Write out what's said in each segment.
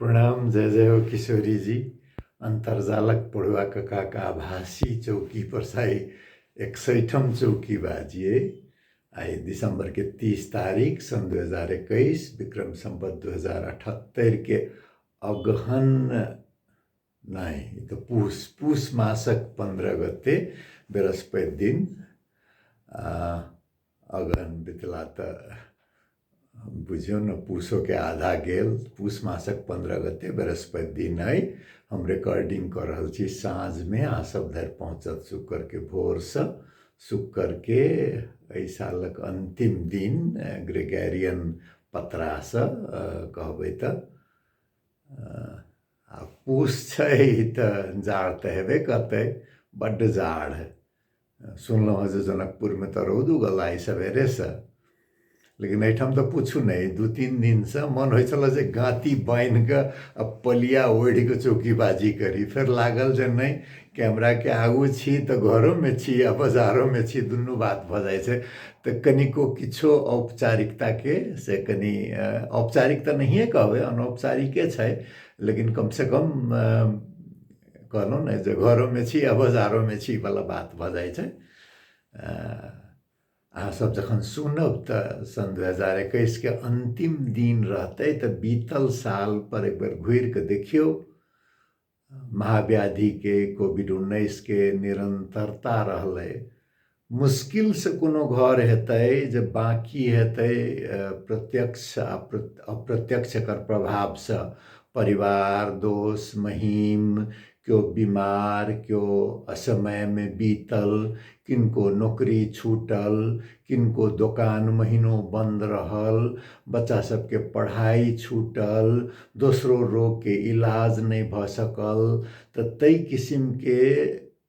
प्रणाम जय जय हो किशोरी जी अन्तर्जालक पढ़ुआ ककाक आभासी चौकी पर साई एकसठम चौकी बाजिए आइ दिसंबर के तीस तारीख सन दू हजार एकैस विक्रम संबत दू हजार अठहत्तरि के अगहन नहि ई तऽ पूस पूस मासक पन्द्रह गते बृहस्पति दिन अगहन बितला तऽ बुझियौ ने पूसोके आधा गेल पूस मासक पन्द्रह गते बृहस्पति दिन अइ हम रिकॉर्डिंग कऽ रहल छी साँझमे अहाँ सब धरि पहुँचत शुक्रके भोरसँ शुक्रके एहि सालक अन्तिम दिन ग्रेगेरियन पत्रासँ कहबै तऽ आ पूस छै तऽ जाड़ तऽ हेबे करतै बड्ड जाड़ सुनलहुँ हँ जे जनकपुरमे तऽ रौद उगल आइ सबेरेसँ लेकिन एहिठाम तऽ पुछू नहि दू तीन दिनसँ मन होइ छलऽ जे गाँती बान्हि कऽ आ पलिया ओढ़ि कऽ चौकीबाजी करी फेर लागल जे नहि कैमराके आगू छी तऽ घरोमे छी आ बजारोमे छी दुनू बात भऽ जाइ छै तऽ कनिको किछो औपचारिकताके से कनि अ, औपचारिक तऽ नहिए कहबै अनौपचारिके छै लेकिन कमसँ कम अ, कहलहुँ ने जे घरोमे छी आ बजारोमे छी बला बात भऽ जाइ छै अहाँ सब जखन सुनब तऽ सन दू हजार एकैसके अन्तिम दिन रहतै तऽ बीतल साल पर एक बेर घुरि कऽ देखियौ महाव्याधिके कोविड उन्नैसके निरन्तरता रहलै मुश्किलसँ कोनो घर हेतै जे बाँकी हेतै प्रत्यक्ष आ अप्रत्यक्ष एकर प्रभावसँ परिवार दोस्त महीम केओ बीमार केओ असमयमे बीतल किनको नौकरी छूटल किनको दोकान महीनो बन्द रहल बच्चा सबके पढ़ाइ छूटल दोसरो रोगके इलाज नहि भऽ सकल तऽ ताहि किसिमके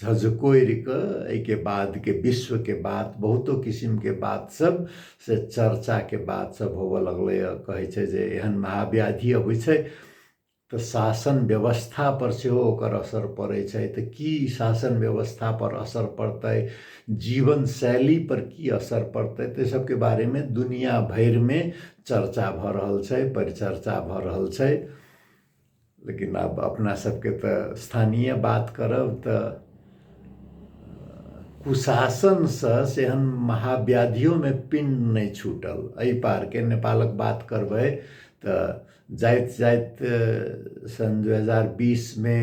झझकोरि कऽ एहिके बादके विश्वके बात बहुतो किसिमके बात सब से चर्चाके बात सब होबऽ लगलै हँ कहै छै जे एहन महाव्याधि अबै छै तऽ शासन व्यवस्था पर सेहो ओकर असर पड़ै छै तऽ की शासन व्यवस्था पर असर पड़तै जीवन शैली पर की असर पड़तै तऽ सबके बारेमे दुनिया भरिमे चर्चा भऽ रहल छै परिचर्चा भऽ रहल छै लेकिन आब अपना सबके तऽ स्थानीय बात करब तऽ कुशासनसँ सेहन महाव्याधियोमे पिण्ड नहि छूटल एहि पारके नेपालक बात करबै तऽ जाइत जाइत सन् दू हजार बीसमे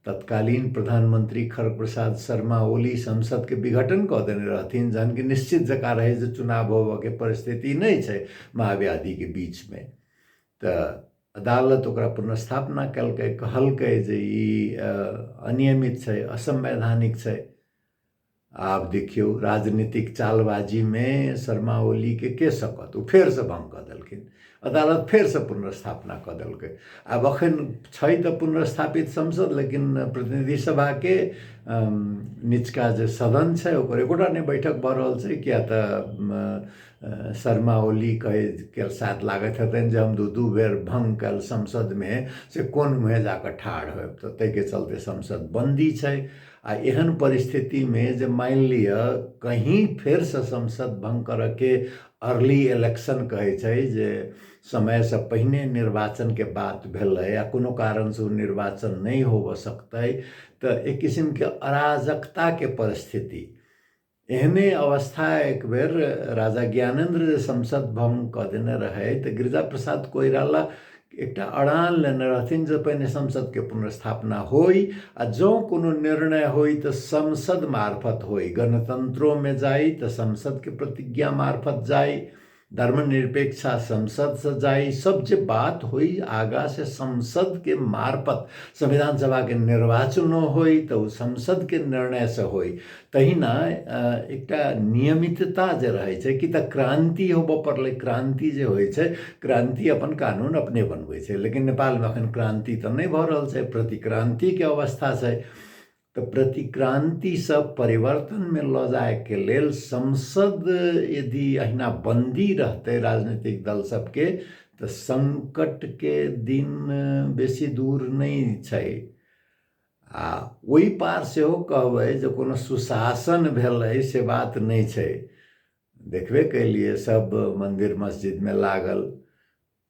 तत्कालीन प्रधानमन्त्री खड्ग प्रसाद शर्मा ओली संसदके विघटन कऽ देने रहथिन जहन कि निश्चित जकाँ रहै जे चुनाव होबऽके परिस्थिति नहि छै महाव्याधिके बीचमे तऽ अदालत ओकरा पुनर्स्थापना कयलकै कहलकै जे ई अनियमित छै असंवैधानिक छै आब देखियौ राजनीतिक चालबाजीमे शर्मा ओलीके के सकत ओ फेरसँ भङ्ग कऽ देलखिन अदालत फेरसँ पुनर्स्थापना कऽ देलकै आब एखन छै तऽ पुनर्स्थापित संसद लेकिन प्रतिनिधि सभाके निचका जे सदन छै ओकर एकोटा नहि बैठक भऽ रहल छै किएक तऽ शर्मा ओलीके के साथ लागैत हेतनि जे हम दू दू बेर भङ्ग कयल संसदमे से कोन मुँहे जा कऽ ठाढ़ होयब तऽ ताहिके चलते संसद बन्दी छै आ एहन परिस्थितिमे जे मानि लिअ कहीँ फेरसँ संसद भङ्ग करयके अर्ली इलेक्शन कहै छै जे समयसँ पहिने निर्वाचनके बात भेलै आ कोनो कारणसँ ओ निर्वाचन नहि होबय सकतै तऽ एक किसिमके अराजकताके परिस्थिति एहने अवस्था एक बेर राजा ज्ञानेन्द्र जे संसद भंग कऽ देने रहै तऽ गिरिजा प्रसाद कोइराला एकटा अड़ान लेने रहथिन जे पहिने संसदके पुनर्स्थापना होइ आ जँ कोनो निर्णय होइ तऽ संसद मार्फत होइ गणतन्त्रोमे जाइ तऽ संसदके प्रतिज्ञा मार्फत जाइ धर्मनिरपेक्ष संसद से जाए सब जे बात होई आगा से संसद के मार्फत संविधान सभा के निर्वाचन होई तो संसद के निर्णय से होई तहिना एक नियमितता जे रहे छे कि त क्रांति होबो पड़ले क्रांति जे होई छे क्रांति अपन कानून अपने बनवे छे लेकिन नेपाल में अखन क्रांति तो नहीं भ रहल छे प्रतिक्रांति के अवस्था छे तऽ प्रतिक्रान्तिसँ परिवर्तनमे लऽ जायके लेल संसद यदि अहिना बन्दी रहतै राजनीतिक दल सबके तऽ सङ्कटके दिन बेसी दूर नहि छै आ ओहि पार सेहो कहबै जे कोनो सुशासन भेलै से बात नहि छै देखबे कयलियै सब मन्दिर मस्जिदमे लागल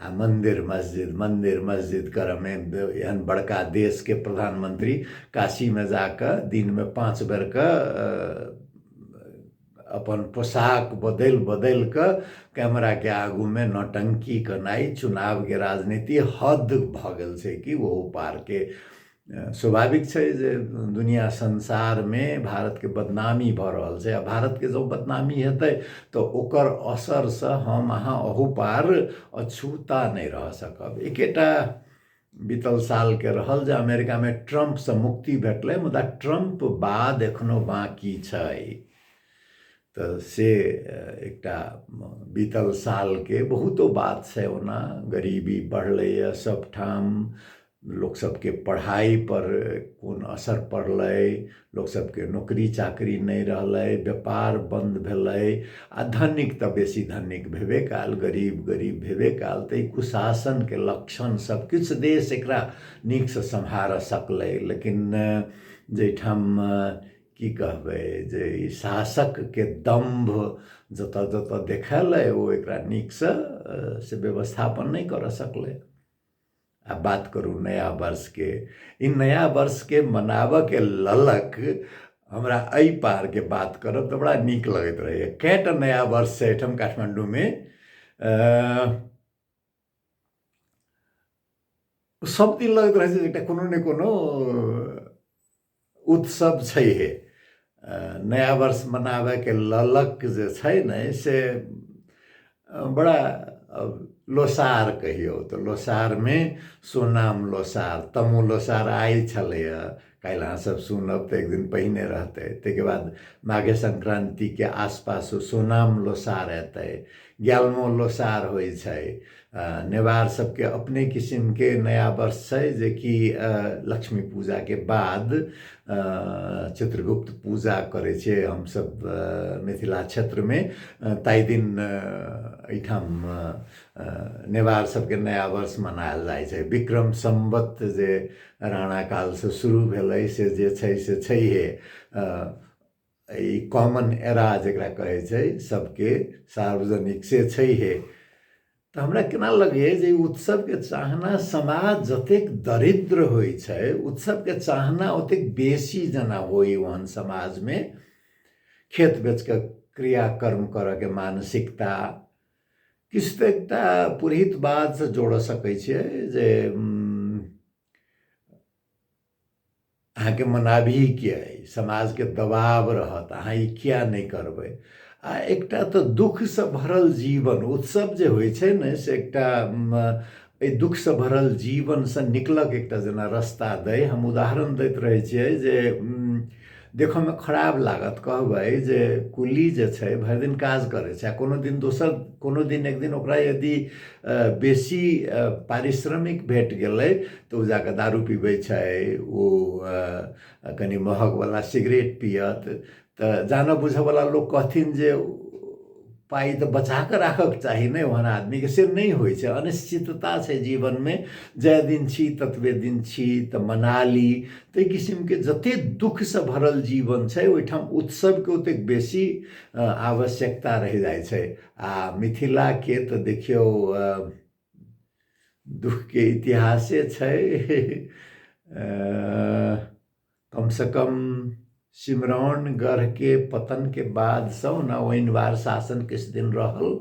आ मंदिर मस्जिद मंदिर मस्जिद करऽमे एहन बड़का देशके प्रधानमंत्री काशीमे जाकऽ दिनमे पाँच बेरके अपन पोशाक बदलि बदलि कऽ कैमराके आगूमे नौटंकी केनाइ चुनावके राजनीति हद भऽ गेल छै कि ओहू पारके स्वाभाविक छै जे दुनिया संसारमे भारतके बदनामी भऽ रहल छै आ भारतके जब बदनामी हेतै तऽ ओकर असरसँ हम अहाँ अहुपार अछूता नहि रह सकब एकेटा बीतल सालके रहल जे अमेरिकामे ट्रम्पसँ मुक्ति भेटलै मुदा ट्रम्प बाद एखनो बाँकी छै तऽ से एकटा बीतल सालके बहुतो बात छै ओना गरीबी बढ़लैए सभठाम लोकसभके पढ़ाइपर कोन असर पड़लै लोकसभके नौकरी चाकरी नहि रहलै व्यापार बन्द भेलै आ धनिक तऽ बेसी धनिक भेबे कयल गरीब गरीब भेबे कयल तऽ ई कुशासनके लक्षण सभ किछु देश एकरा नीकसँ सम्हारऽ सकलै लेकिन जाहिठाम की कहबै जे ई शासकके दम्भ जतऽ जतऽ देखेलै ओ एकरा नीकसँ से व्यवस्थापन नहि करऽ सकलै आ बात करू नया वर्षके ई नया वर्षके मनाबऽके ललक हमरा एहि पारके बात करब तऽ बड़ा नीक लगैत रहैए कएटा नया वर्ष छै एहिठाम काठमाण्डूमे सभ दिन लगैत रहै छै एकटा कोनो ने कोनो उत्सव छै हे नया वर्ष मनाबैके ललक जे छै ने से बड़ा लोसार कहियौ तऽ लोसारमे सोनाम लोसार तमो लोसार आइ छलैए काल्हि अहाँसभ सुनब तऽ एक दिन पहिने रहतै ताहिके बाद माघे संक्रान्तिके आसपास सोनाम लोसार एतै ग्यालमो लोसार होइ छै नेवार सबके अपने किसिम के नया वर्ष छै जे कि लक्ष्मी पूजा के बाद चित्रगुप्त पूजा करे छे हम सब मिथिला क्षेत्र में ताई दिन एठाम नेवार सबके नया वर्ष मनायल जाय छे विक्रम संवत जे राणा काल से शुरू भेलै से जे छै से छै हे ई कॉमन एरा जकरा कहै छै सबके सार्वजनिक से छैहे तऽ हमरा केना लगैए जे उत्सवके चाहना समाज जतेक दरिद्र होइ छै उत्सवके चाहना ओतेक बेसी जेना होइ ओहन समाजमे खेत बेचके क्रियाकर्म करऽके मानसिकता किछु तऽ एकटा पुरहितवादसँ जोड़ऽ सकै छियै जे अहाँके मनाबही किया अइ समाजके दबाव रहत अहाँ ई किया नहि करबै आ एकटा तऽ दुःखसँ भरल जीवन उत्सव जे होइ छै ने से एकटा एहि दुःखसँ भरल जीवनसँ निकलक एकटा जेना रस्ता दै हम उदाहरण दैत रहै छियै जे देखऽमे खराब लागत कहबै जे कुल्ली जे छै भरि दिन काज करै छै आ कोनो दिन दोसर कोनो दिन एक दिन ओकरा यदि बेसी पारिश्रमिक भेट गेलै तऽ ओ जाकऽ दारू पीबै छै ओ कनि महगवला सिगरेट पिअत तऽ जानऽ बुझऽवला लोक कहथिन जे पाइ तऽ बचा कऽ राखक चाही ने ओहन आदमीके से नहि होइ छै अनिश्चितता छै जीवनमे जाहि दिन छी ततबे दिन छी तऽ मना ली ताहि किसिमके जते दुःखसँ भरल जीवन छै ओहिठाम उत्सवके ओतेक बेसी आवश्यकता रहि जाइ छै आ मिथिलाके तऽ देखियौ दुःखके इतिहासे छै कम से कम सिमरौन गढ़ के पतन के बाद से ओना ओहिनवार शासन किछु दिन रहल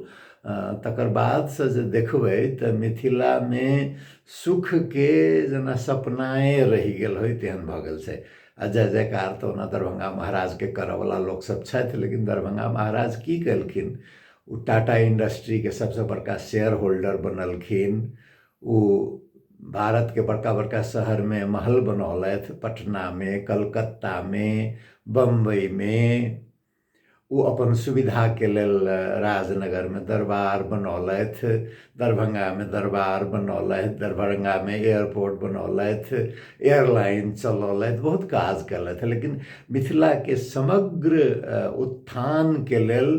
तकर बाद से जे देखबै तऽ मिथिला मे सुख के जेना सपनाए रहि गेल होइ तेहन भऽ गेल छै आ जय जयकार तऽ ओना दरभंगा महाराज के करऽ वाला लोक सब छथि लेकिन दरभंगा महाराज की केलखिन ओ टाटा इंडस्ट्री के सबसे बड़का शेयर होल्डर बनलखिन ओ भारतके बड़का बड़का शहरमे महल बनौलथि पटनामे कलकत्तामे बम्बइमे ओ अपन सुविधाके लेल राजनगरमे दरबार बनौलथि दरभंगामे दरबार बनौलथि दरभंगामे एयरपोर्ट बनौलथि एयरलाइन चलौलथि बहुत काज कयलथि लेकिन मिथिलाके समग्र उत्थानके लेल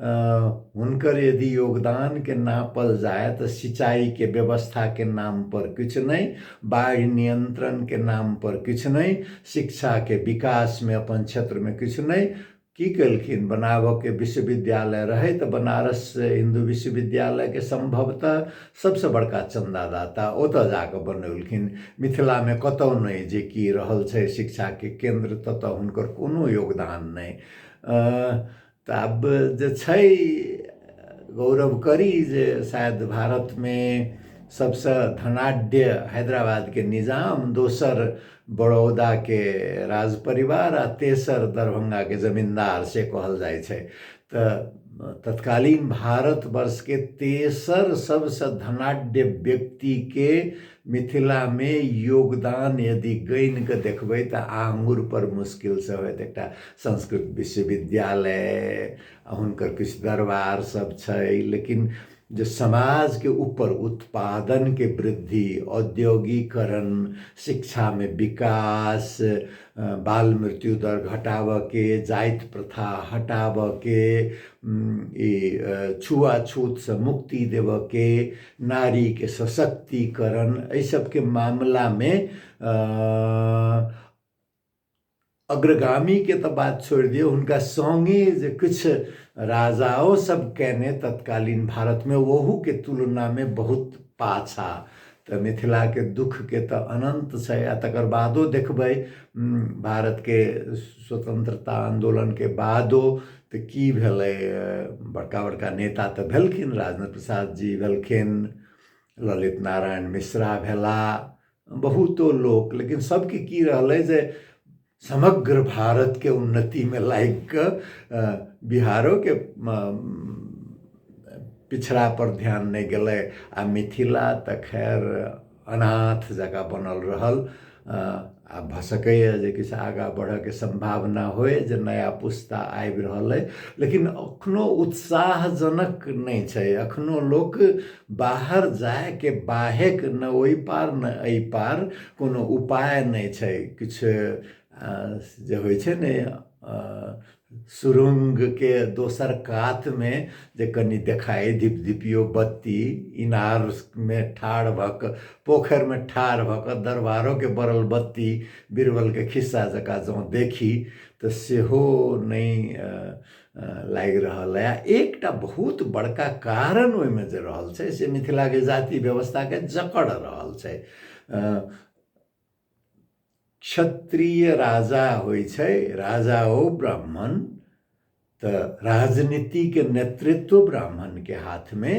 हुनकर यदि योगदानके नापल जाय तऽ सिंचाइके व्यवस्थाके नाम पर किछु नहि बाढ़ि नियन्त्रणके नाम पर किछु नहि शिक्षाके विकासमे अपन क्षेत्रमे किछु नहि की केलखिन बनाबऽके विश्वविद्यालय रहै तऽ बनारस हिन्दू विश्वविद्यालयके सम्भवतः सबसँ बड़का चन्दादाता ओतऽ जाकऽ बनौलखिन मिथिलामे कतौ नहि जे की रहल छै शिक्षाके केन्द्र ततऽ हुनकर कोनो योगदान नहि तऽ आब जे छै गौरव करी जे शायद भारतमे सबसँ धनाढ्य हैदराबादके निजाम दोसर बड़ौदाके राज परिवार आ तेसर दरभंगाके जमींदार से कहल जाइ छै तऽ तत्कालीन भारतवर्षके तेसर सबसँ धनाढ्य व्यक्तिके मिथिलामे योगदान यदि गनि कऽ देखबै तऽ आङ्गुर पर मुश्किलसँ होयत एकटा संस्कृत विश्वविद्यालय आ हुनकर किछु दरबार सब छै लेकिन जे समाजके ऊपर उत्पादनके वृद्धि औद्योगिकरण शिक्षामे विकास बाल मृत्यु दर घटाबऽके जाति प्रथा हटाबऽके ई छुआछूतसँ मुक्ति देबऽके नारीके सशक्तिकरण एहि सबके मामलामे अग्रगामीके तऽ बात छोड़ि दियौ हुनका सङ्गे जे किछु राजाओ सब कयने तत्कालीन भारतमे ओहूके तुलनामे बहुत पाछा तऽ मिथिलाके दुःखके तऽ अनन्त छै आ तकर बादो देखबै भारतके स्वतंत्रता आन्दोलनके बादो तऽ की भेलै बड़का बड़का नेता तऽ भेलखिन राजेन्द्र प्रसाद जी भेलखिन ललित नारायण मिश्रा भेला बहुतो लोक लेकिन सभके की रहलै जे समग्र भारतके उन्नतिमे लागि कऽ बिहारोके पिछड़ापर ध्यान नहि गेलै आ मिथिला तऽ खैर अनाथ जकाँ बनल रहल आ भऽ सकैए जे किछु आगाँ बढ़यके सम्भावना होय जे नया पुस्ता आबि रहल अइ लेकिन एखनो उत्साहजनक नहि छै एखनो लोक बाहर जायके बाहेक ने ओहि पार ने एहि पार कोनो उपाय नहि छै किछु जे होइ छै ने सुरुंगके दोसर कातमे जे कनि देखाइ धिपधिपियो बत्ती इनारमे ठाढ़ भऽ कऽ पोखरिमे ठाढ़ भऽ कऽ दरबारोके बरल बत्ती बीरबलके खिस्सा जकाँ जँ देखी तऽ सेहो नहि लागि रहल अइ एकटा बहुत बड़का कारण ओहिमे जे रहल छै से मिथिलाके जाति व्यवस्थाके जकड़ रहल छै क्षत्रिय राजा होइ छै राजा ओ ब्राह्मण तऽ राजनीतिके नेतृत्व ब्राह्मणके हाथमे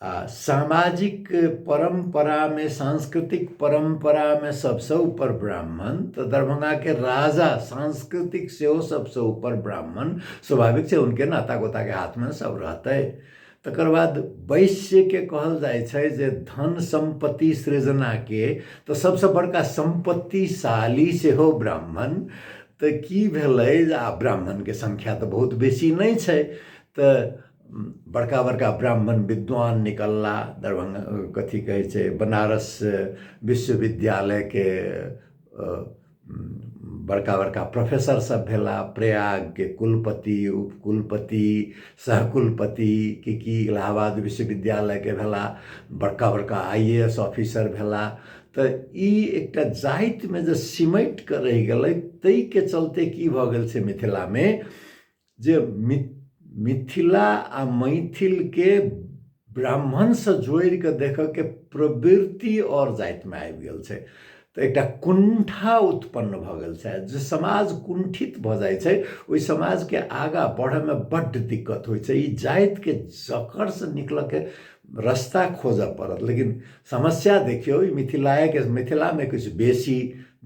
आ सामाजिक परम्परामे सांस्कृतिक परम्परामे सबसँ ऊपर ब्राह्मण तऽ दरभंगाके राजा सांस्कृतिक सेहो सबसँ ऊपर ब्राह्मण स्वाभाविक छै हुनके नाता गोताके हाथमे सब रहतै तकर बाद वैश्यके कहल जाइ छै जे धन सम्पत्ति सृजनाके तऽ सबसँ बड़का सम्पत्तिशाली सेहो ब्राह्मण तऽ की भेलै जे आ ब्राह्मणके संख्या तऽ बहुत बेसी नहि छै तऽ बड़का बड़का ब्राह्मण विद्वान निकलला दरभंगा कथी कहै छै बनारस विश्वविद्यालयके बड़का बड़का प्रोफेसर सब भेला प्रयागके कुलपति उपकुलपति सहकुलपति कि कि इलाहाबाद विश्वविद्यालयके भेला बड़का बड़का आई ए एस ऑफिसर भेला तऽ ई एकटा जातिमे जे सिमटि कऽ रहि गेलै ताहिके चलते की भऽ गेल छै मिथिलामे जे मिथिला आ मैथिलके ब्राह्मणसँ जोड़ि कऽ देखऽके प्रवृत्ति आओर जातिमे आबि गेल छै तऽ एकटा कुण्ठा उत्पन्न भऽ गेल छै जे समाज कुण्ठित भऽ जाइ छै ओहि समाजके आगाँ बढ़ैमे बड्ड दिक्कत होइ छै ई जातिके जकड़सँ निकलऽके रस्ता खोजऽ पड़त लेकिन समस्या देखियौ ई मिथिलाएके मिथिलामे किछु बेसी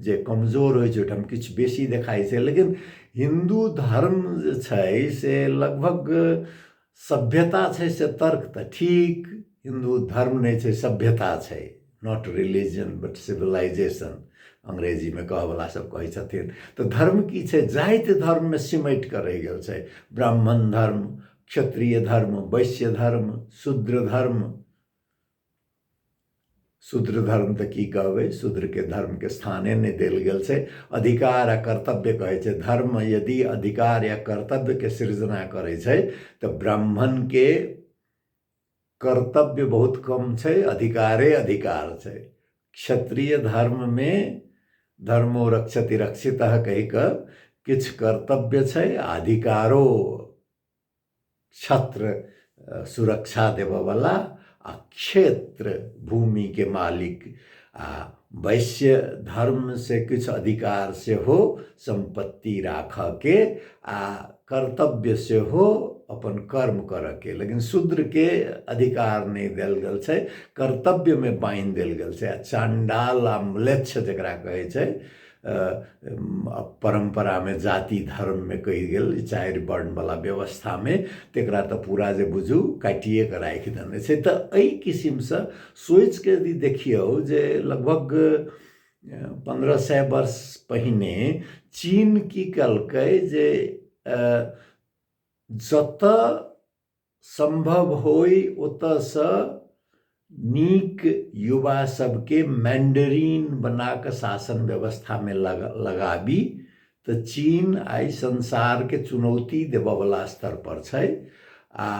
जे कमजोर होइ छै ओहिठाम किछु बेसी देखाइ छै लेकिन हिन्दू धर्म जे छै से लगभग सभ्यता छै से तर्क तऽ ठीक हिन्दू धर्म नहि छै सभ्यता छै नॉट रिलीजन बट सिविलाइजेशन अंग्रेजीमे कहऽवला सब कहै छथिन तऽ धर्म की छै जाति धर्ममे सिमटि कऽ रहि गेल छै ब्राह्मण धर्म क्षत्रिय धर्म वैश्य धर्म शूद्र धर्म शूद्र धर्म तऽ की कहबै शूद्रके धर्मके स्थाने नहि देल गेल छै अधिकार आ कर्तव्य कहै छै धर्म यदि अधिकार या कर्तव्यके सृजना करै छै तऽ ब्राह्मणके कर्तव्य बहुत कम छै अधिकारे अधिकार छै क्षत्रिय धर्ममे धर्मो रक्षति रक्षित कहि कऽ किछु कर्तव्य छै आ अधिकारो छत्र सुरक्षा देबऽवला आ क्षेत्र भूमिके मालिक आ वैश्य धर्मसँ किछु अधिकार सेहो सम्पत्ति राखऽके आ कर्तव्य सेहो अपन कर्म करऽके लेकिन शूद्रके अधिकार नहि देल गेल छै कर्तव्यमे बान्हि देल गेल छै आ चण्डाल आ म्लेच्छ जकरा कहै छै परम्परामे जाति धर्ममे कहि गेल चारि वर्णवला व्यवस्थामे तकरा तऽ पूरा जे बुझू काटिए कऽ राखि देने छै तऽ एहि किसिमसँ सोचिके यदि देखियौ जे लगभग पन्द्रह सए वर्ष पहिने चीन की कलकै जे जतऽ सम्भव होइ ओतऽसँ नीक युवा सबके मैंडरीन बना कऽ शासन व्यवस्था मे लगाबी तऽ चीन आइ संसार के चुनौती देबऽ बला स्तर पर छै आ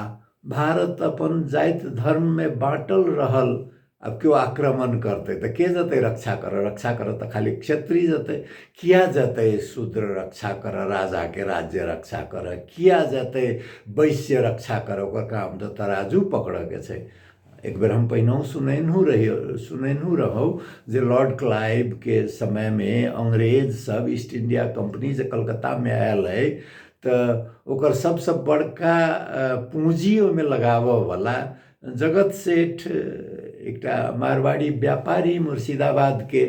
भारत अपन जाइत धर्म मे बाँटल रहल अब केओ आक्रमण करतै तऽ के जेतै रक्षा करऽ रक्षा करऽ तऽ खाली क्षत्रिय जेतै किया जेतै शूद्र रक्षा करऽ राजाके राज्य रक्षा करऽ किया जेतै वैश्य रक्षा करऽ ओकर काम तऽ तराजू पकड़ऽके छै एक बेर हम पहिनहु सुनेनहु रही सुनेनहु रहौ जे लॉर्ड क्लाइवके समयमे अंग्रेज सब ईस्ट इंडिया कंपनी जे कलकत्तामे आयल अइ तऽ ओकर सबसँ बड़का पूँजी ओहिमे लगाबऽवला जगत सेठ एकटा मारवाड़ी व्यापारी मुर्शिदाबादके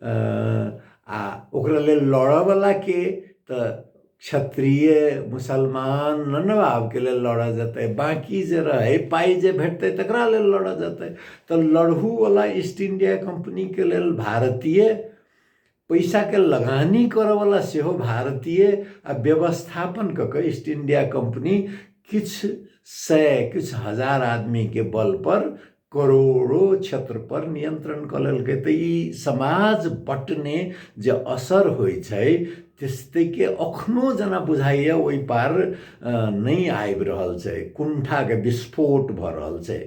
आ ओकरा लेल लड़ऽवलाके तऽ क्षत्रिय मुसलमान नन्नवाबके लेल लड़ऽ जेतै बाँकी जे रहै पाइ जे भेटतै तकरा लेल लड़ऽ जेतै तऽ लड़हूवला ईस्ट इंडिया कंपनीके लेल भारतीय पैसाके लगानी करऽवला सेहो भारतीय आ व्यवस्थापन कऽ कऽ ईस्ट इंडिया कंपनी किछु सय किछु हजार आदमीके बल पर करोड़ो क्षेत्र पर नियंत्रण कऽ लेलकै तऽ ई समाज बटने जे असर होइ छै त्यस्तैके अखनो जेना बुझाइए ओहि पार नहि आबि रहल छै कुण्ठाके विस्फोट भऽ रहल छै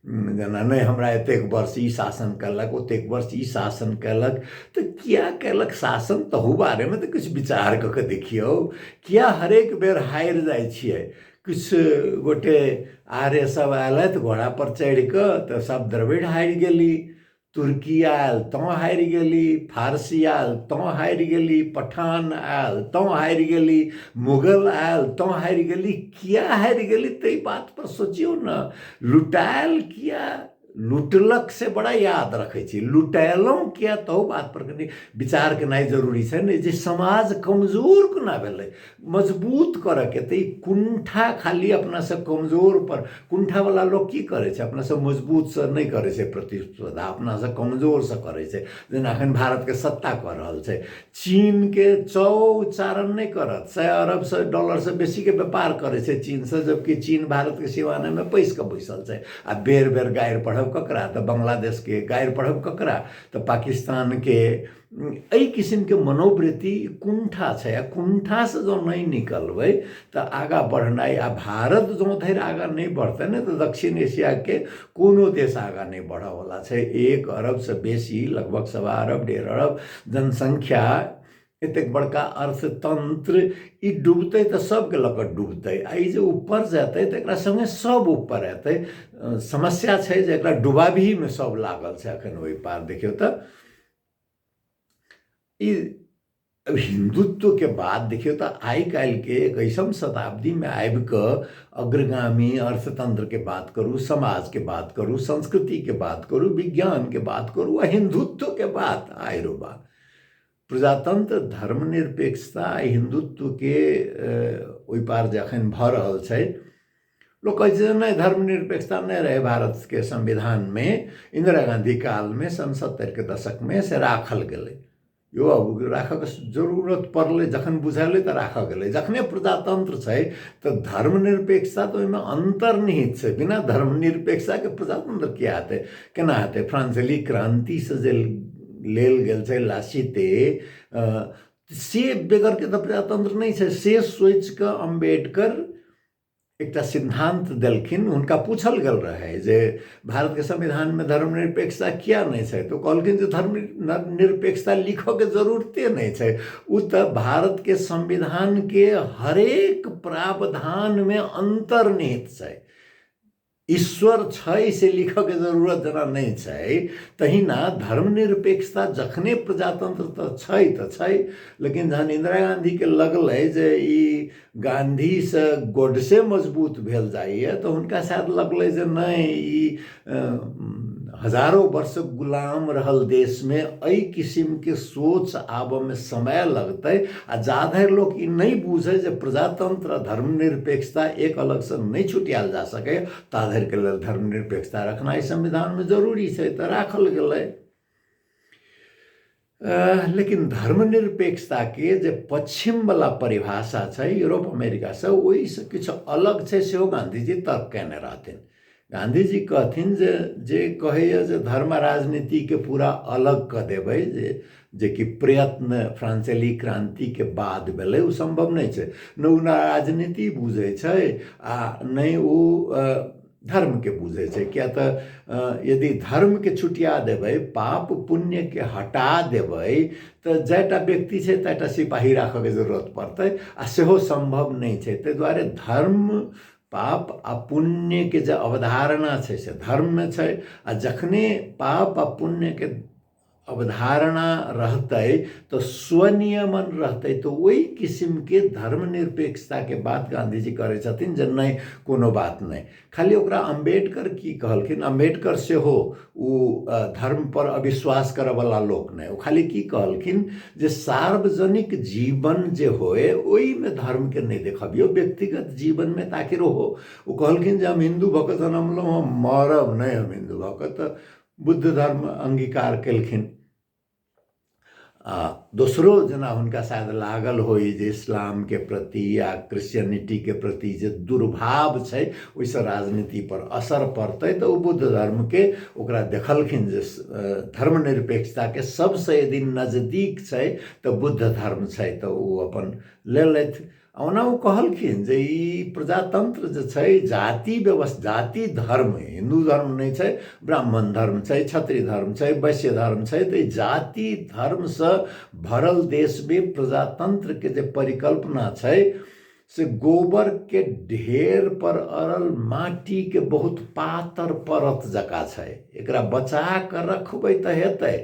जेना नहि हमरा एतेक वर्ष ई शासन कयलक ओतेक वर्ष ई शासन कयलक तऽ किए कयलक शासन तहू बारेमे तऽ किछु विचार कऽ कऽ देखियौ किए हरेक बेर हारि जाइ छियै किछु गोटे आर्य सभ अयलथि घोड़ापर चढ़ि कऽ तऽ सभ द्रविड़ हारि गेली तुर्की आयल तँ हारि गेली फारसी आयल तँ हारि गेली पठान आयल तँ हारि गेली मुगल आयल तँ हारि गेली किया हारि गेली ताहि बात पर सोचियौ ने लुटायल किया लुटलक से बड़ा याद रखै छी लुटेलहुँ किया तहु बात पर कनि विचार केनाइ जरूरी छै ने जे समाज कमजोर कोना भेलै मजबूत करऽके तऽ ई कुण्ठा खाली अपनासँ कमजोरपर कुण्ठावला लोक की करय छै अपनासँ मजबूतसँ नहि करय छै प्रतिस्पर्धा अपनासँ कमजोरसँ करय छै जेना एखन भारतके सत्ता कऽ रहल छै चीनके चौ उच्चारण नहि करत सए अरबसँ डॉलरसँ बेसीके व्यापार करय छै चीनसँ जबकि चीन भारतके सिवानेमे पैसि कऽ बैसल छै आओर बेर बेर गारि पढ़ब ककरा तऽ बांग्लादेशके गारि पढ़ब ककरा तऽ पाकिस्तानके एहि किसिमके मनोवृत्ति कुण्ठा छै आ कुण्ठासँ जँ नहि निकलबै तऽ आगाँ बढ़नाइ आ भारत जँ धरि आगाँ नहि बढ़तै ने तऽ दक्षिण एशियाके कोनो देश आगाँ नहि बढ़यवला छै एक अरबसँ बेसी लगभग सवा अरब डेढ़ अरब जनसङ्ख्या एतेक बड़का अर्थतन्त्र ई डूबतै तऽ सभकेँ लऽ कऽ डूबतै आ ई जे ऊपर जेतै तऽ एकरा सङ्गे सभ ऊपर अयतै समस्या छै जे एकरा डुबाबहीमे सभ लागल छै एखन ओहि पार देखियौ तऽ ई अब हिंदुत्व के बात देखियो तो आई काल के एक ऐसा शताब्दी में आब क अग्रगामी अर्थतंत्र के बात करू समाज के बात करू संस्कृति के बात करू विज्ञान के बात करू आ हिंदुत्व के बात आय रो बा प्रजातंत्र धर्मनिरपेक्षता आ हिंदुत्व के अ, ओहि पार जखन भऽ रहल छै लोक कहै छै जे नहि धर्मनिरपेक्षता नहि रहै भारतके संविधानमे इन्दिरा गाँधी कालमे सन सत्तरिके दशकमे से राखल गेलै यौ अब राखऽके जरूरत पड़लै जखन बुझेलै तऽ राखल गेलै जखने प्रजातन्त्र छै तऽ धर्मनिरपेक्षता तऽ ओहिमे अन्तर्निहित छै बिना धर्मनिरपेक्षताके प्रजातन्त्र किएक हेतै कोना हेतै फ्रान्सेली क्रान्तिसँ जे लेल गेल छै लासिते से बेगरके तऽ प्रजातन्त्र नहि छै से सोचिकऽ अम्बेडकर एकटा सिद्धान्त देलखिन हुनका पूछल गेल रहै जे भारतके संविधानमे धर्मनिरपेक्षता किया नहि छै तऽ ओ कहलखिन जे धर्म निरपेक्षता लिखऽके जरूरते नहि छै ओ तऽ भारतके संविधानके हरेक प्रावधानमे अन्तर्निहित छै ईश्वर छै से लिखऽके जरूरत जेना नहि छै तहिना धर्मनिरपेक्षता जखने प्रजातन्त्र तऽ छै तऽ छै लेकिन जहन इन्दिरा गाँधीके लगलै जे ई गाँधीसँ गोडसे मजबूत भेल जाइए तऽ हुनका शायद लगलै जे नहि ई हजारो वर्ष गुलाम रहल देशमे एहि किसिमके सोच आबऽमे समय लगतै आ जा धरि लोक ई नहि बुझै जे प्रजातंत्र धर्मनिरपेक्षता एक अलगसँ नहि छुटियाल जा सकै ता धरिके लेल धर्मनिरपेक्षता रखनाइ संविधानमे जरूरी छै तऽ राखल गेलै लेकिन धर्मनिरपेक्षताके जे पश्चिमवला परिभाषा छै यूरोप अमेरिकासँ ओहिसँ किछु अलग छै सेहो गाँधीजी तर्क कयने रहथिन गांधी जी कहथिन जे जे कहैए जे धर्म राजनीतिके पूरा अलग कऽ देबै जे जेकि प्रयत्न फ्रांसेली क्रान्तिके बाद भेलै ओ सम्भव नहि छै नहि ओ राजनीति बुझै छै आ नहि ओ धर्मके बुझै छै किया तऽ यदि धर्मके छुटिया देबै पाप पुण्यके हटा देबै तऽ जाहिटा व्यक्ति छै ताहिटा सिपाही राखयके जरूरत पड़तै आ सेहो सम्भव नहि छै ताहि दुआरे धर्म पाप आ पुण्यके जे अवधारणा छै से धर्ममे छै आ जखने पाप आ पुण्यके अवधारणा रहतै तऽ स्वनियमन रहतै तऽ ओहि किसिमके धर्मनिरपेक्षताके बात गाँधीजी करै छथिन जे नहि कोनो बात नहि खाली ओकरा अम्बेडकर की कहलखिन अम्बेडकर सेहो ओ धर्मपर अविश्वास करऽवला लोक नहि ओ खाली की कहलखिन जे सार्वजनिक जीवन जे होइ ओइमे धर्मके नहि देखबियौ व्यक्तिगत जीवनमे तऽ आखिर ओहो ओ कहलखिन जे हम हिन्दू भऽ कऽ जनमलहुँ हँ मरब नहि हम हिन्दू भऽ कऽ तऽ बुद्ध धर्म अङ्गीकार कयलखिन आ दोसरो जेना हुनका शायद लागल होइ जे इस्लामके प्रति या क्रिश्चियनिटीके प्रति जे दुर्भाव छै ओहिसँ राजनीतिपर असर पड़तै तऽ ओ बुद्ध धर्मके ओकरा देखलखिन जे धर्मनिरपेक्षताके सभसँ यदि नजदीक छै तऽ बुद्ध धर्म छै तऽ ओ अपन लेलथि ओना ओ कहलखिन जे ई प्रजातन्त्र जे छै जाति व्यवस्था जाति धर्म हिन्दू धर्म नहि छै ब्राह्मण धर्म छै क्षत्रिय धर्म छै वैश्य धर्म छै तऽ जाति धर्मसँ भरल देशमे प्रजातन्त्रके जे परिकल्पना छै से गोबरके ढेर पर अड़ल माटिके बहुत पातर परत जकाँ छै एकरा बचा कऽ रखबै तऽ हेतै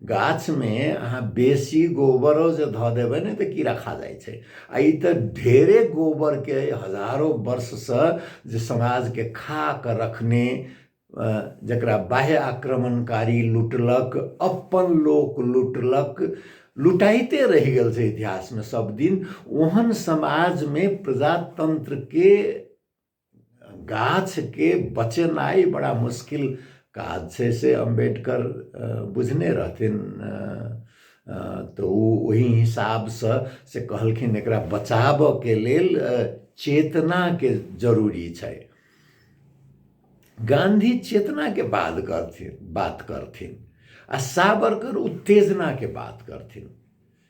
गाछमे अहाँ बेसी गोबरो जे धऽ देबै ने तऽ कीड़ा खा जाइ छै आ ई तऽ ढेरे गोबरके हजारो वर्षसँ जे समाजके खा कऽ रखने जकरा बाह्य आक्रमणकारी लुटलक अपन लोक लुटलक लुटाइते रहि गेल छै इतिहासमे सभदिन ओहन समाजमे प्रजातन्त्रके गाछके बचेनाइ बड़ा मुश्किल काज छै से अम्बेडकर बुझने रहथिन तऽ ओ ओहि हिसाबसँ से कहलखिन एकरा बचाबऽके लेल चेतनाके जरूरी छै गांधी चेतनाके बात करथिन बात करथिन आ सावरकर उत्तेजनाके बात करथिन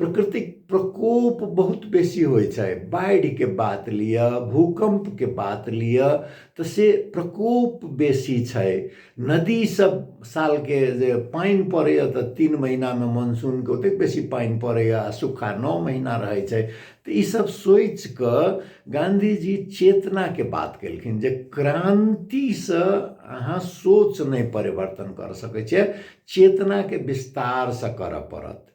प्रकृतिक प्रकोप बहुत बेसी होइ छै बाढ़िके बात लिअ भूकम्पके बात लिअ तऽ से प्रकोप बेसी छै नदी सब सालके जे पानि पड़ैए तऽ तीन महिनामे मानसूनके ओतेक बेसी पानि पड़ैए आओर सूखा नओ महिना रहै छै तऽ ई सब सोचिकऽ गाँधी जी चेतनाके बात कयलखिन जे क्रान्तिसँ अहाँ सोच नहि परिवर्तन कऽ सकै छियै चेतनाके विस्तारसँ करऽ पड़त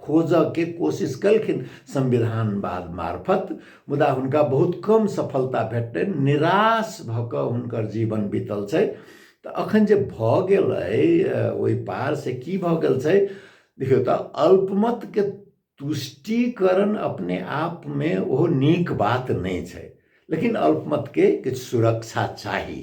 खोजऽके कोशिश केलखिन संविधानवाद मार्फत मुदा हुनका बहुत कम सफलता भेटलनि निराश भऽ कऽ हुनकर जीवन बीतल छै तऽ अखन जे भऽ गेल अइ ओहि पार से की भऽ गेल छै देखियौ तऽ अल्पमतके तुष्टिकरण अपने आपमे ओहो नीक बात नहि छै लेकिन अल्पमतके किछु सुरक्षा चाही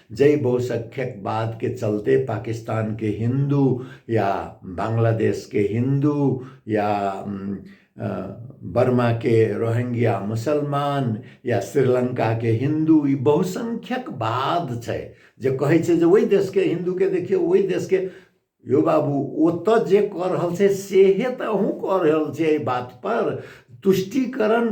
जै बहुसख्यक बात के चलते पाकिस्तान के हिंदू या बांग्लादेश के हिंदू या बर्मा के रोहिंग्या मुसलमान या श्रीलंका के हिंदू ई बहुसंख्यक बाद छै जे कहै छै जे ओहि देश के हिंदू के देखियो ओहि देश के यो बाबू ओत जे कऽ रहल छै सेहे तऽ अहूँ कऽ रहल छै एहि बात पर तुष्टिकरण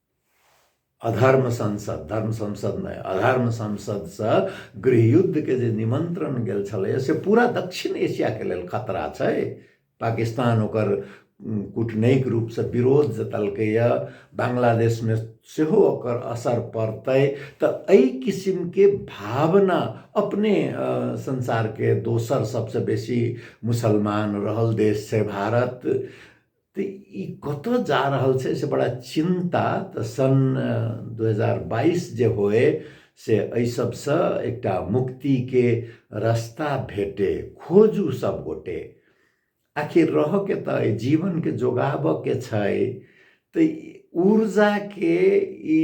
अधर्म संसद धर्म संसद नहि अधर्म संसदसँ गृहयुद्धके जे निमन्त्रण गेल छलैए से पूरा दक्षिण एशियाके लेल खतरा छै पाकिस्तान ओकर कूटनैतिक रूपसँ विरोध जतलकैए बांग्लादेशमे सेहो ओकर असर पड़तै तऽ एहि किसिमके भावना अपने संसारके दोसर सभसँ बेसी मुसलमान रहल देश छै भारत तऽ ई कतऽ जा रहल छै से बड़ा चिन्ता तऽ सन दू हजार बाइस जे होए से एहि सबसँ एकटा मुक्तिके रस्ता भेटे खोजू सब गोटे आखिर रहऽके तऽ एहि जीवनके जोगाबऽके छै तऽ ऊर्जाके ई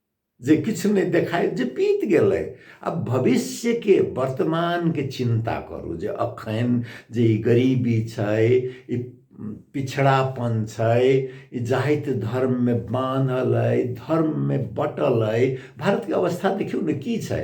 जे किछु नहि देखाय जे बीत गेलै आब भविष्यके वर्तमानके चिन्ता करू जे अखन जे ई गरीबी छै ई पिछड़ापन छै ई जाति धर्ममे बान्हल अइ धर्ममे बटल अइ भारतके अवस्था देखियौ ने की छै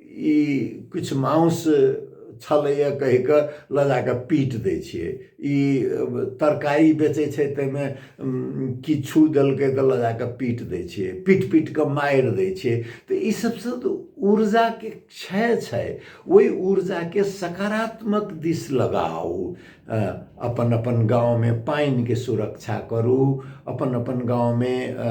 ई किछु मांस छलैए कहि कऽ लऽ जा कऽ पीट दै छियै ई तरकारी बेचै छै ताहिमे किछु देलकै तऽ लऽ जा कऽ पीट दै छियै पीट पीट कऽ मारि दै छियै तऽ ई सभसँ तऽ ऊर्जाके क्षय छै ओहि ऊर्जाके सकारात्मक दिस लगाउ अ, अपन अपन गाउँमे पानिके सुरक्षा करू अपन अपन गाउँमे अ,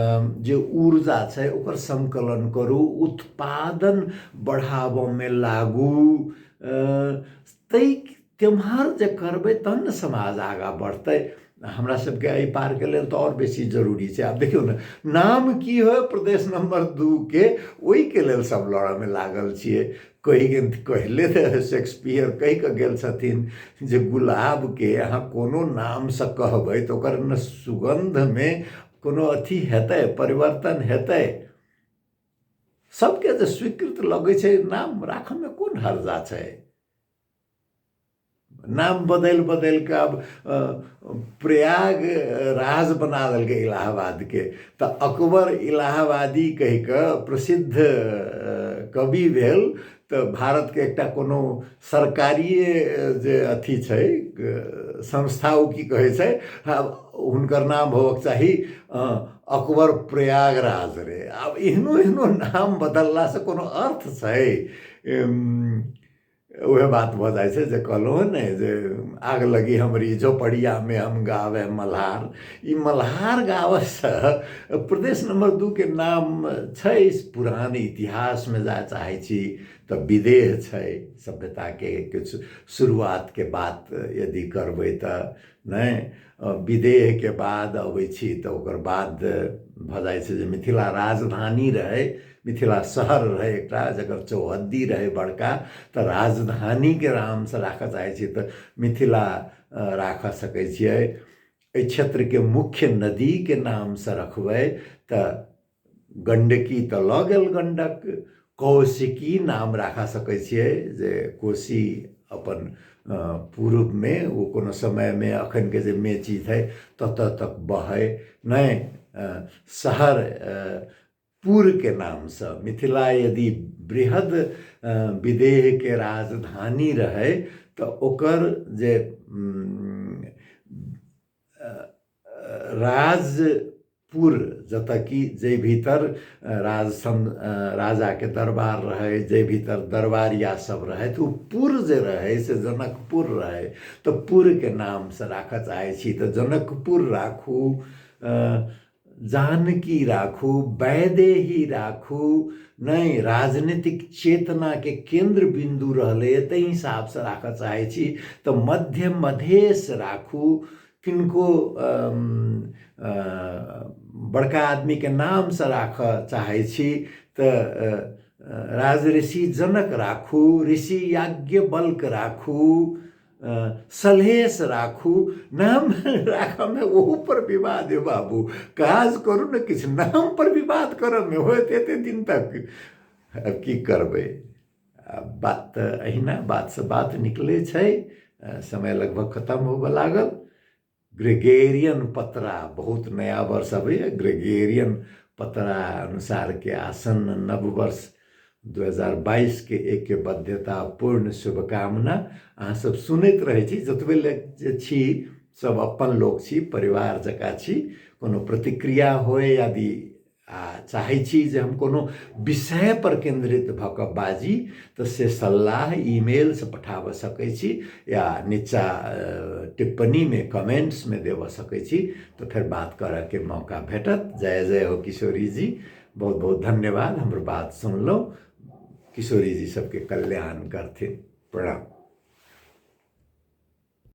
जे ऊर्जा छै ओकर सङ्कलन करू उत्पादन बढ़ाबऽमे लागू अ, ताहि तेम्हर जे करबै तहन ने समाज आगाँ बढ़तै हमरा सबके एहि पारके लेल तऽ आओर बेसी जरूरी छै आब देखियौ ने नाम की होय प्रदेश नम्बर दूके ओहिके लेल सब लड़ऽमे लागल छियै कहि गेल कहले रहै शेक्सपियर कहि कऽ गेल छथिन जे गुलाबके अहाँ कोनो नामसँ कहबै तऽ ओकर ने सुगन्धमे कोनो अथी हेतै परिवर्तन हेतै सभके जे स्वीकृत लगै छै नाम राखयमे कोन हर्जा छै नाम बदलि बदलि कऽ आब प्रयाग राज बना देलकै इलाहाबादके तऽ अकबर इलाहाबादी कहि कऽ प्रसिद्ध कवि भेल तऽ भारतके एकटा कोनो सरकारिए जे अथी छै संस्था ओ की कहै छै हुनकर नाम होबक चाही अकबर प्रयागराज रे आब एहनो एहनो नाम बदललासँ कोनो अर्थ छै उहे बात भऽ जाइ छै जे कहलहुँ हँ ने जे आग लगी हमरी झोपड़ियामे हम गावे मल्हार ई मल्हार गाबैसँ प्रदेश नम्बर दूके नाम छै पुरान इतिहासमे जाय चाहै छी तऽ विदेह छै सभ्यताके किछु शुरुआतके बात यदि करबै तऽ नहि विदेहके बाद अबै छी तऽ ओकर बाद भऽ जाइ छै जे मिथिला राजधानी रहै मिथिला शहर रहै एकटा जकर चौहद्दी रहै बड़का तऽ राजधानीके नामसँ राखऽ चाहै छी तऽ मिथिला राखऽ सकै छियै एहि क्षेत्रके मुख्य नदीके नामसँ रखबै तऽ गण्डकी तऽ लऽ गेल गण्डक कौशिकी नाम राखा सकै छियै जे कोशी अपन पूर्वमे ओ कोनो समयमे एखनके जे मेची छै ततऽ तक बहै नहि शहर पूरके नामसँ मिथिला यदि बृहद विदेहके राजधानी रहै तऽ ओकर जे राजपुर जतऽ कि जाहि भीतर राज सम राजाके दरबार रहै जाहि भीतर दरबारिया सब रहै तऽ ओ पुर जे रहै से जनकपुर रहै तऽ पुरके नामसँ राखऽ चाहै छी तऽ जनकपुर राखू जानकी राखू वैदेही राखू नहि राजनीतिक चेतनाके केन्द्र बिन्दु रहलैए ताहि हिसाबसँ राखऽ चाहै छी तऽ मध्य मधेश राखू किनको बड़का आदमीके नामसँ राखऽ चाहै छी तऽ राज ऋषि जनक राखू ऋषि याज्ञ बल्क राखू सलहेश राखू नाम राखऽमे ओहूपर विवाद हे बाबू काज करू ने किछु नामपर विवाद करऽमे होत एतेक दिन तक आब की करबै बात तऽ अहिना बातसँ बात निकलै छै समय लगभग खतम होबऽ लागल ग्रेगेरियन पतरा बहुत नया वर्ष अबैए ग्रेगेरियन पतरा अनुसारके आसन्न नव वर्ष दू हजार बाइसके एकके बाध्यतापूर्ण शुभकामना अहाँसभ सुनैत रहै छी जतबे ले जे छी सभ अपन लोक छी परिवार जकाँ छी कोनो प्रतिक्रिया होय यदि आ चाहै छी जे हम कोनो विषय पर केंद्रित भऽ कऽ बाजी तऽ से सलाह ईमेल से पठाबऽ सकै छी या नीचा टिप्पणी मे कमेंट्स मे देव सकै छी तऽ फेर बात करऽ के मौका भेटत जय जय हो किशोरी जी बहुत बहुत धन्यवाद हमर बात सुनलहुँ किशोरी जी सबके कल्याण करथिन प्रणाम